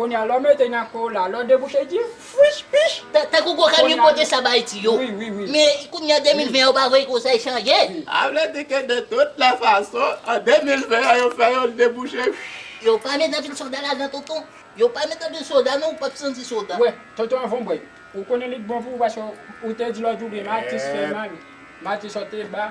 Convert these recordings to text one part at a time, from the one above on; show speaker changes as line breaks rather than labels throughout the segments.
Konya lè w mete nan kò w la, lè w debouche di fwish pish! Tankou kokenn yo
pote sa ba Ayiti yo. Men kounya
2020
an yo pa vle konsèy chanje. A vle di ke
de tout lè fason, an 2020 an yo fè yo l debouche fwish! Yo pa met
anpil soda ladan tonton. Yo pa met anpil soda non ou pap santi soda. Wè, tonton anvan w bwè
l, ou konnen li t bon pou ou paske ou te di lòt jou ou byen Mati s fè mal, Mati sote ba.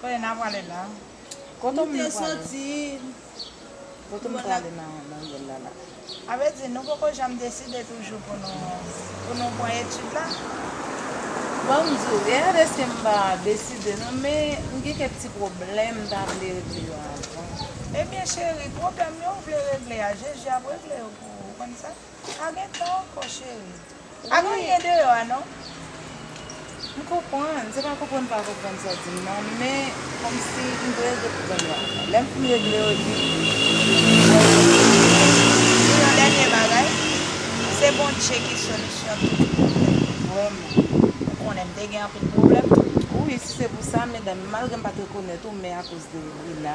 Kote na prale la. Kote m soti. Kote m prale nan nouvèl la la. A vre di, nou poko janm deside toujou pou nou pou nou pran etid la?
Bon m di w, gen yon deske m pa deside non men m gen kèk ti pwoblèm m ta vle regle yo avan. Ebyen cheri,
pwoblèm yo ou vle regle a, Jezi ap regle yo pou ou, ou konn sa. Pa gen tan ankò cheri. Pa gen
anyen deyò a non. M konprann, se pa konprann m pa konprann sa w di m nan, men kòmsi m dwe regle pwoblèm yo ankò. Lè m fin regle yo epi mwen wè yon solisyon. Pou
yon dènye bagay, se Bondje ki solisyon tout pwoblèm yo, vrèman. Ou konnen m te gen anpil pwoblèm tou. Wi, si se pou
sa, medam, malgre m pa t rekonèt ou, men akoz de Lina,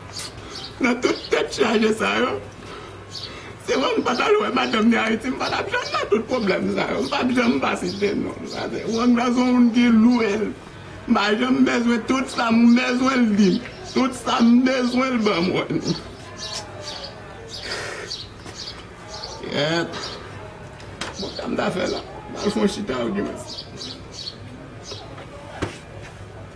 Nan tout tèt chaje sa yo se wè m pat al wè madanm ni ayiti m pa tap janm nan tout pwoblèm sa yo m pap janm pa site non m sa se wang nan son moun ki lwe l m pa janm bezwen tout sa m bezwen l di m tout sa m bezwen l ban mwen kèèt bon sa m ta fè la m al fon chita ok mèsi.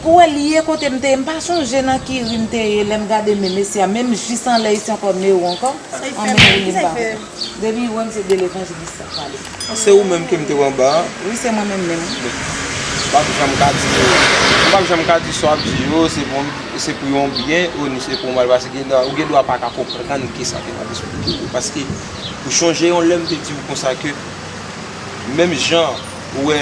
Pou wè li ye kote m te ye m pa sonje nan ki ri m te ye lè m gade men mesye a menm jis anlè isi ankò men ou ankò anmweyy li m
pa kontan depi li wè m
se de levanjilis lap pale Se ou menm ke m
te wè anba an? Wi se mwen menm menm
wi. M pap
janm ka di yo M pap janm ka di sa w ap di yo se pou se pou yon byen o ni se pou yon mal paske ou gen dwa pa ka konprann ke sa ke m ap esplike yo paske ou chonje yon lè m te di w konsa ke menm jan Ou wè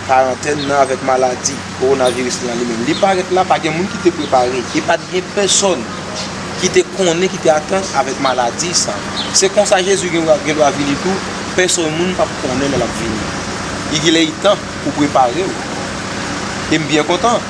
karantèn nan avèk maladi kowonaviris lan li menm. Li parèt la, pa gen moun ki te prepare. E pa t gen pèsòn ki te konnen, ki te atann avèk maladi sa. Se konsa Jezi gen dwa vini tou, pèsòn moun p ap konnen lè l ap vini. Igilèitan pou w prepare w. E m byen kontan.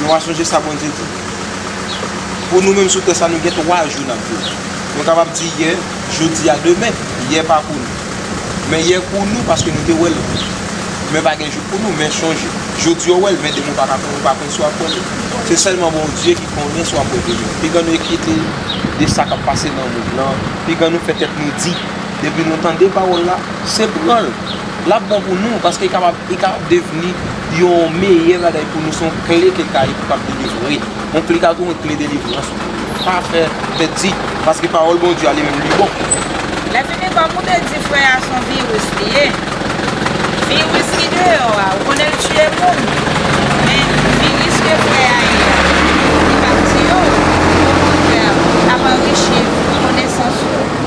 Nou va sonje sa Bondye di. Pou nou menm sou tè sa nou gen 3 jou nap viv. Nou kapab di yè, jodi a, demen. Yè pa pou nou. Men yè pou nou paske nou te wèl. Demen pa gen jou pou nou men sonje. Jodi ou wèl men demen ou pa ka konnen ou pa konnen si wap wèl li. Se sèlman Bondye ki konnen si wap wè demen. Pi gran nou enkyete de sa kap pase nan mond lan. Pi gran nou fè tèt nou di. Depi nou tande pawòl la, se pranl. L ap bon pou nou paske li ka devni yon meyè bagay pou nou. Se yon kle ke ka ede w kab delivre. Yon kle ka tou yon kle delivrans tou. Pa fè tèt di paske pawòl Bondye a li menm li bon. Lèfini
kòm ou te di frè a son viris li ye, viris ki deyò a ou konnen l tiye moun men viris ke frè a ye a li pap tiye w okontrè l ap anrichi konesans
ou.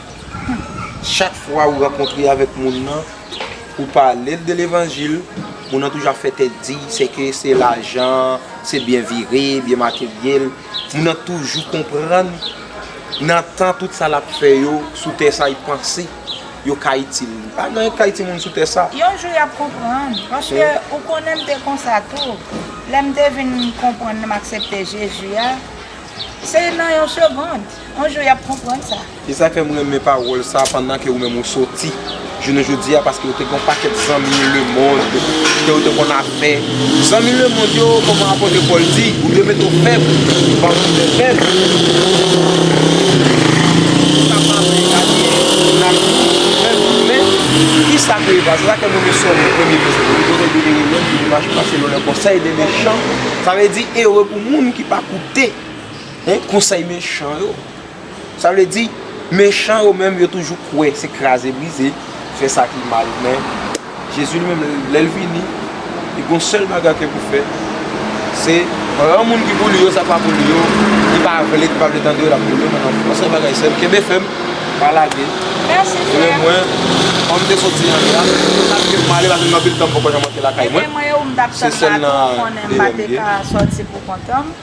Chak fwa ou rankontre avèk moun nan, ou pale l de levanjil, moun nan toujou ap fè tèt di, se ke se lajan, se byen vire, byen materyèl, moun nan toujou konprann nan tan tout sa l ap fè yo sou tè sa y panse yo ka itil li. Pa gen anyen k ka itil moun sou tè sa. Yon jou y ap konprann,
paske ou konnen m te konsa tou, lè m te vin konprann m aksepte Jezi a, se nan yon segond. On jou yap konprann sa. E sa fèm renmen
pawòl sa pandan ke ou menm ou soti jounen jodi a paske ou te gon pakèt zanmi le mond ke ou te konn ap fè zanmi le mond yo kòman apotre Paul di ou dwe mete ou fèb paske ou te fèb ou ka pa vle gade moun ap di ou fèb ou men kisa ke eva se sa fèm renmen sòm nan premye vèsè li di bonè dwe ere lòm ki te mache pase lò lè konsèy de mechan sa vle di ere pou moun ki pa koute Hum konsèy mechan yo. Sa vle di mechan yo menm yo toujou kwè se kraze brize, fè sa ki mal men Jezi li menm lèl vini li gon sèl bagay ke pou fè se pran moun ki pou li yo sa ki pa pou li yo ki pa vle ki pa vle tande yo lap mete yo nan lanfè yon sèl bagay sèm kenbe fèm pa lage ebyen
mwen kòm
te soti an deja se sak fèm pale paske gen anpil tan m poko janm antre lakay mwen se sèl
nan devan m ye.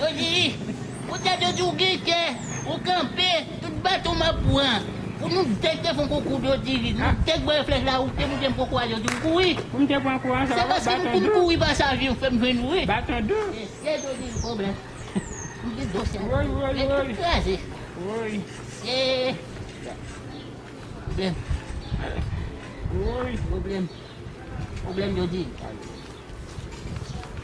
Yo di li, Poutèt yo di w gen kè, ou kanpe, tout baton m ap pran. Pou nou dèk te fè yon konkou yo di li, nou dèk voye flèch la, ou te moute m konkou a yo di m kouri. Se paske m konn kouri pasaj
yo fè m jwenn ou wi.
E syèj yo di li, Pwoblèm. M gen do syèj yo, men tout
kraze. E
pwoblèm.
Pwoblèm.
Pwoblèm yo di li.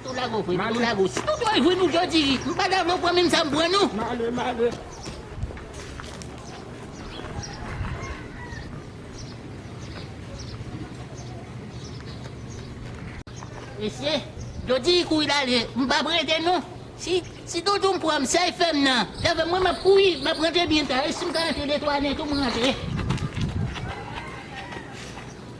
Tout lago vre tout lago si tout oil vre nou dwe di wi m pa dakò pran menm sa m pran nou. Male male. Mesye dwe di wi kouri lale m pap rete non si si tout ou m pran m sèl fèm nan davè mwen map kouri map rantre byen ta e si m ka rantre de twa nen tou m rantre.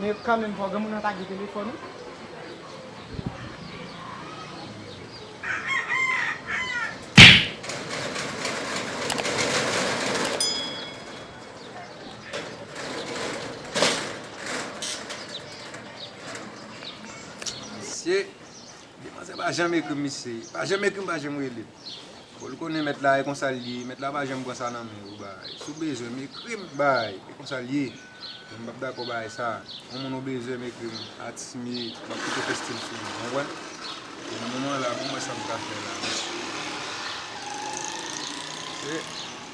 Men kanmenm fò granmoun nan ta gen telefòn wi.
Mesye, demoiselle pa janm ekrim mesye, pa janm ekrim pa janm rele. Fol konnen mèt la e konsal ye, mèt la pa janm pran sa nan men ou bay. Sou bezwenm ekrim bay, e konsal ye. Mwen pap dakò bagay sa. Yon moun obeje m ekri m atis mye map kite peste m sou li nou konprann. E nan moman la pou m wè sa m ka fè la mesye.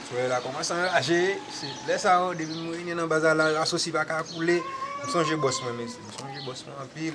Soleil la kòmanse anraje. Se lè sa yo depi m renyen nan baza la asosye pa ka koule. M sonje bòs mwen mesye. M sonje bòs mwen anpil.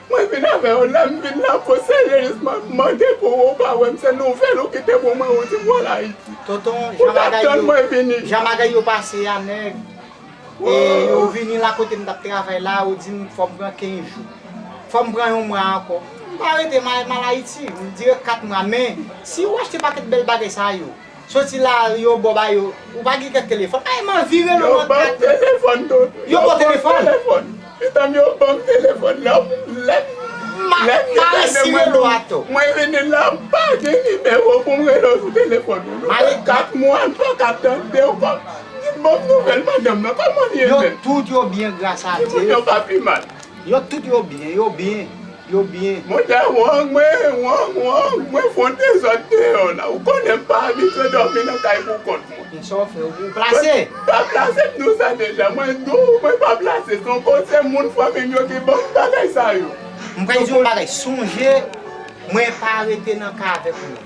Mwen vin avè yon lèm vin la fo seryezis map mande pou wou pa wèm se nouvèl ou kite pou mwen wou di wal ayiti Tonton jan
bagay jan bagay
yo pase ya nèg
e ou vini la kotem tap travay la ou dim fòm pran 15 jou fòm pran yon mwa ankò mpa rete mal ayiti mdirèk 4 mwa men si ou achte pakèt bèl bagay sa yo Soti la yo bo ba yo. Ou pa gen kèk telefòn. Ay man vire non mwen kèt. Yo banm telefòn
tout. Yo banm
telefòn. Etanm yo
banm telefòn la lèm. Lèm gen kade mwen nou. Mwen vini la m pa gen nimewo pou m rele w sou telefòn. Nou fè 4 mwa m pa ka tande w banm. Banm nouvèl madanm nan kòman li ye menm. Yo tout yo byen
gras a Dye. Timoun yo pa pi mal.
Yo tout yo byen,
yo byen, yo byen.
Mwen te wong, mwen wong, wong, mwen fon de zòd deyò la. Ou konnen m pa abitye dòmi nan kay pou kont mwen. Men sa w fè, ou
plase. Mwen pa plase, m di
w sa deja. Mwen di w, mwen pa plase. Son bon se moun fanmi m yo ki ban m bagay sa yo. M pral di w yon bagay,
sonje mwen pa rete nan ka avèk moun.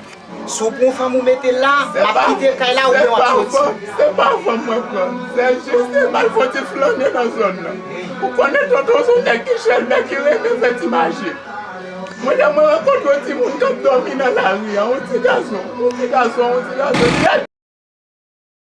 Si w pran fanm ou mete l la, l ap kite l kay la oubyen w ap soti. Se pa fanm
mwen pran, se jis yon bal fon ti flane nan zòn nan. Ou konnen tonton son nèg ki chèl, nèg ki renmen fè ti maji. Mwen lè mwen rankontre yon timoun k ap dòmi nan lari a, yon ti gason, yon ti gason, yon ti gason nèt.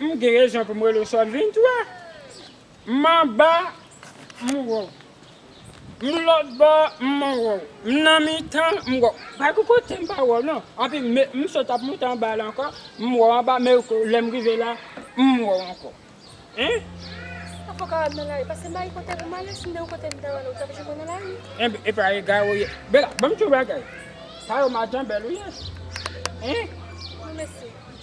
M gen rezon
pou m rele w sòt 23 M anba m wè w M lòtbò m man wè w M nan mitan m wè w Pa gen kote m pa wè w non Anpi m sot ap monte anba la ankò M wè w anba men lè m rive la M wè w ankò Hein. Ou poko
wè m nan lari Pase m bay kote pou m ale Si m te yon kote m ta wè w Ou t ap
jwenn mwen nan lari Enben e pa egare ou ye Bella ban m ti yon bagay Sa yo madanbèl ou ye Hein. Non mèsi.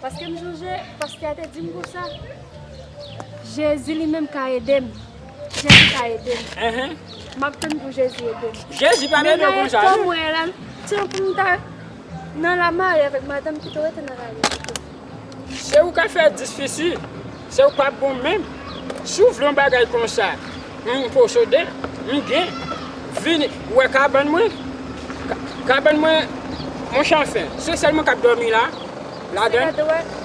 Paske m sonje pastè a te di m konsa Jezi li menm ka ede m Jezi ka ede m M ap tann pou Jezi ede m Jezi pa nan yon
konsa non Men nan etan mwen
la se pou m ta nan lamarye avèk madanm ki te rete nan lari pito Se ou k ap fè
10 fisi Sè ou pa bon menm. Si ou vle yon bagay konsa m posede, m gen. Vin wè kabann mwen. Kabann mwen monchè anfen. Se sèl mwen k ap dòmi la, ladan l. Sè Kate,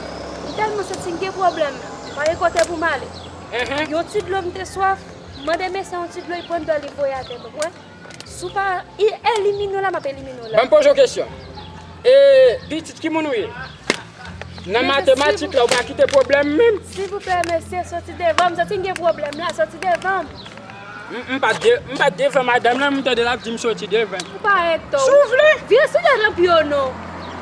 M
tèlman santi m gen pwoblèm la. M pa gen kote pou m ale. Yon ti dlo m te swaf. M mande mesye yon ti dlo li pran dlo l li voye atè m. Si w pa elimine w la, m ap elimine w la. Ban m poze w kesyon.
E pitit ki moun ou ye? Nan matematik la ou pa kite pwoblèm menm? Silvouplè mesye,
soti devan m. Soti m gen pwoblèm la. Soti devan m.
M pa t devan madanm lan, m tande l ap di m soti devan l. Ou pa rete tou. Si w
vle. Vire sou
tèt anpi yo
non.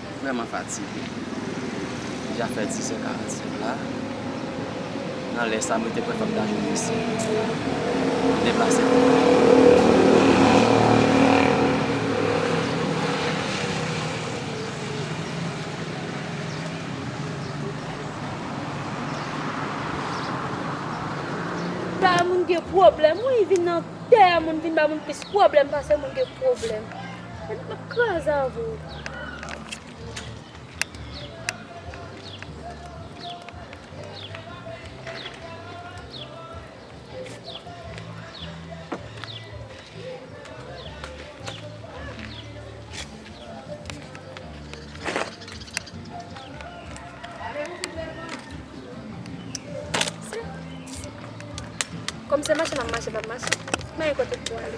M vrèman fatige. Li deja fè 10h45 la. Nan lè sa, m rete prèske tout lajounen isit. M deplase pou
m vini. Tè moun gen pwoblèm wi, vin nan tè moun vin ba moun plis pwoblèm pase moun gen pwoblèm. Gade map kraze avw. Kom se mache map mache map mache. Mwen kote pou ale.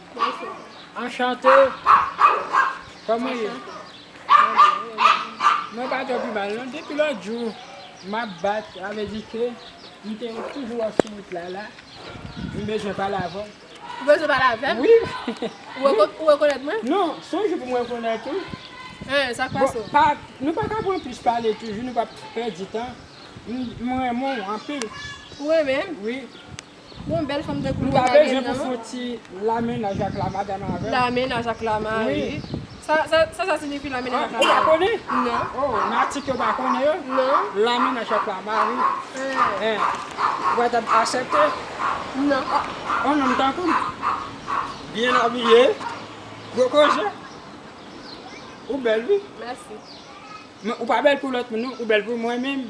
Anchante Kòman ye? Mwen pa tro pi mal non depi lòt jou map bat sa vle di ke m te toujou wè w sou wout la la m bezwen pale avè w. Ou bezwen pale
avè m? Wi. Ou rekonèt mwen? Non, son jou pou m
rekonèt ou. Hein, sa k pase w? Bon, nou pa ka pran plis pale toujou nou pa pèdi tan. M renmen w anpil. Ou renmen m?
Wi.
Bon
bel fanm tankou nou pa gen nan.
Mwen ti la menaj ak la madanm avèm. La menaj ak la mari. Sa sa sinifi la menaj ak la
mari. Ou pa konnen?
Non. Oh nati
ke ou pa
konnen yo? Non. La menaj
ak la mari.
Eeh. Ou pa tap asepte? Non.
On nonm
tankoum. Byen abiye. Gwo koze. Ou bel wi.
Mèsi. Ou pa bel pou lot
moun non ou bel pou mwen menm.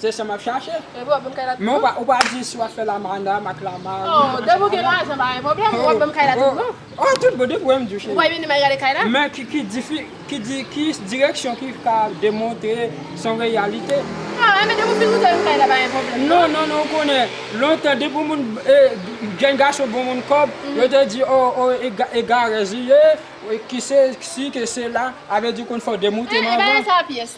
Se sa map chache. Men
ou pa di si
wap fè la madam ak la mari. Oh depi ou gen lajan
pa gen pwoblèm, wap banm kay la tout bon. Oh tout bon depi ou
renmn di cheri. Ou pa vini mwen gade kay la.
Men
ki direksyon ki ka demontre son reyalite. Oh men depi ou fin
montre m kay la pa gen pwoblèm. Non non non ou konnen
lontan depi yon moun jèn gason bon moun kòb yo te di oh egarèz li ye, kise si kise la, avèdi ou konn fò demoutre'm anvan. Bagay sa pyès.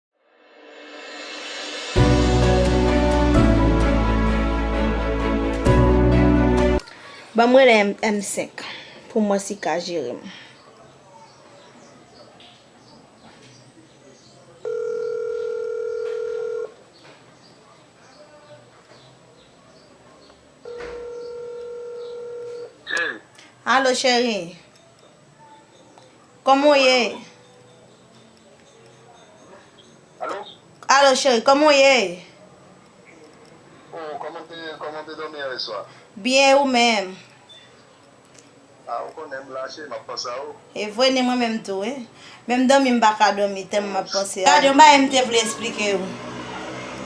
Banm rele M 5 pou mwen si ka jerem. Allo cheri Koman w ye? Alo? Alo cheri, kòman w ye?
Oh, kòman w te ye? Kòman w te dòmi yè swa? Byen, e ou menm? Ah, ou konnen m la cheri, m ap panse a ou. E vre, ni mwen menm
tou wi. Menm dòmi m pa ka dòmi tèlman m ap panse a ou. Gad yon bagay m te vle esplike ou.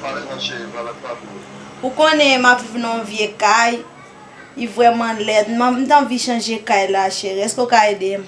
Pale non
cheri, pale ak papi ou. Ou konnen
m ap viv nan yon vye kay, li vrèman lèd. M ta anvi chanje kay la cheri, èske ou ka ede m?